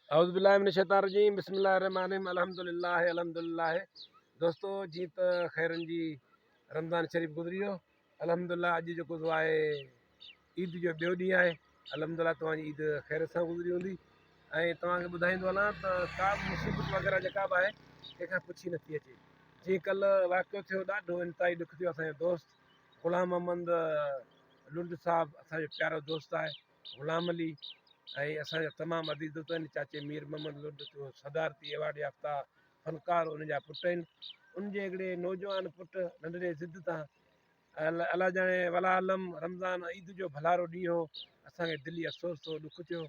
اعوذ بالله من الشيطان الرجيم بسم الله الرحمن الرحيم الحمد لله الحمد لله دوستو جي ته خيرن جي رمضان شريف گذري ويو الحمد لله اڄ جيڪو سو آهي عيد جو ٻيو ڏينهن آهي الحمد لله توهان جي عيد خير سان گذري هوندي ۽ توهان کي ٻڌائيندو هلان ته ڪا به مصيبت وغيره جيڪا به آهي ڪنهن کان پڇي نٿي اچي جيئن ڪل واقعو ٿيو ڏاڍو انتهائي ڏک ٿيو اسان جو دوست غلام محمد لنڊ صاحب اسان جو پيارو دوست آهي غلام علي ۽ اسان جا تمام عزيز دوست آهن چاچي مير محمد لوڏ جو صدارتي ايوارڊ يافته فنڪار ان جا پٽ آهن ان جي هڪڙي نوجوان پٽ ننڍڙي ضد تان الا ڄاڻي ولا علم رمضان عيد جو ڀلارو ڏينهن هو اسانکي دلي افسوس ٿيو ڏک ٿيو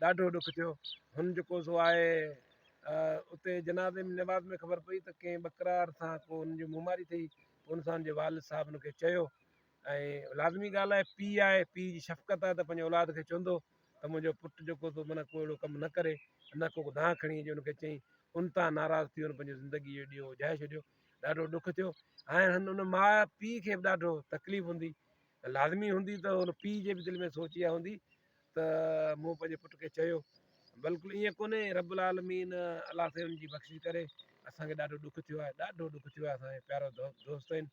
ڏاڍو ڏک ٿيو هن جيڪو سو آهي اتي جنازي ۾ نواز ۾ خبر پئي ته ڪنهن ٻڪرار سان ڪو ان جي مماري ٿي ان سان جي والد صاحب ان کي چيو ۽ لازمي ڳالهه آهي پيء آهي پيء جي شفقت آهي ته پنهنجي اولاد کي چوندو ته منهنجو پٽ جيڪو تو منا ڪو اهڙو ڪم نه ڪري نه ڪو دانهن کڻي اچي ان کي چئين ان تان ناراض ٿي هن پنهنجو زندگي جو ڏيئو اجهائي ڇڏيو ڏاڍو ڏک ٿيو هاڻي هن ان ماء پيء کي به ڏاڍو تڪليف هوندي لازمي هوندي ته ان پيء جي به دل ۾ سوچ اها هوندي ته مون پنهنجي پٽ کي چيو بلڪل ائين ڪونهي رب العالمين الله سائين ان جي بخشش ڪري اسانکي ڏاڍو ڏک ٿيو آهي ڏاڍو ڏک ٿيو آهي اسانجي پيارو دوست آهن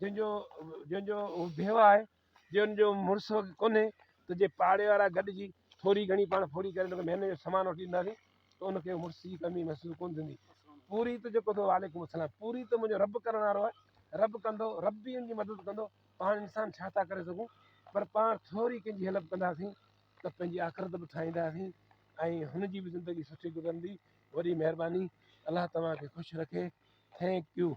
جنهن جو جنهن جو بيوه آهي جنهن جو مڙس ڪونهي ته جي پاڙي وارا گڏجي ٿوري گهڻي پاڻ ڦوري ڪري ان کي مهيني جو سامان وٺي ڏينداسين ته ان کي مڙس جي ڪمي محسوس ڪونه ٿيندي پوري ته جيڪو اٿو وعليڪم السلام پوري ته منهنجو رب ڪرڻ وارو آهي رب ڪندو رب به ان جي مدد ڪندو پاڻ انسان ڇا ٿا ڪري سگهون پر پاڻ ٿوري ڪنهن جي هيلپ ڪنداسين ته پنهنجي آخرت به ٺاهينداسين ۽ هن جي به زندگي سٺي گذرندي وڏي مهرباني الله توهان کي خوش رکي Thank you.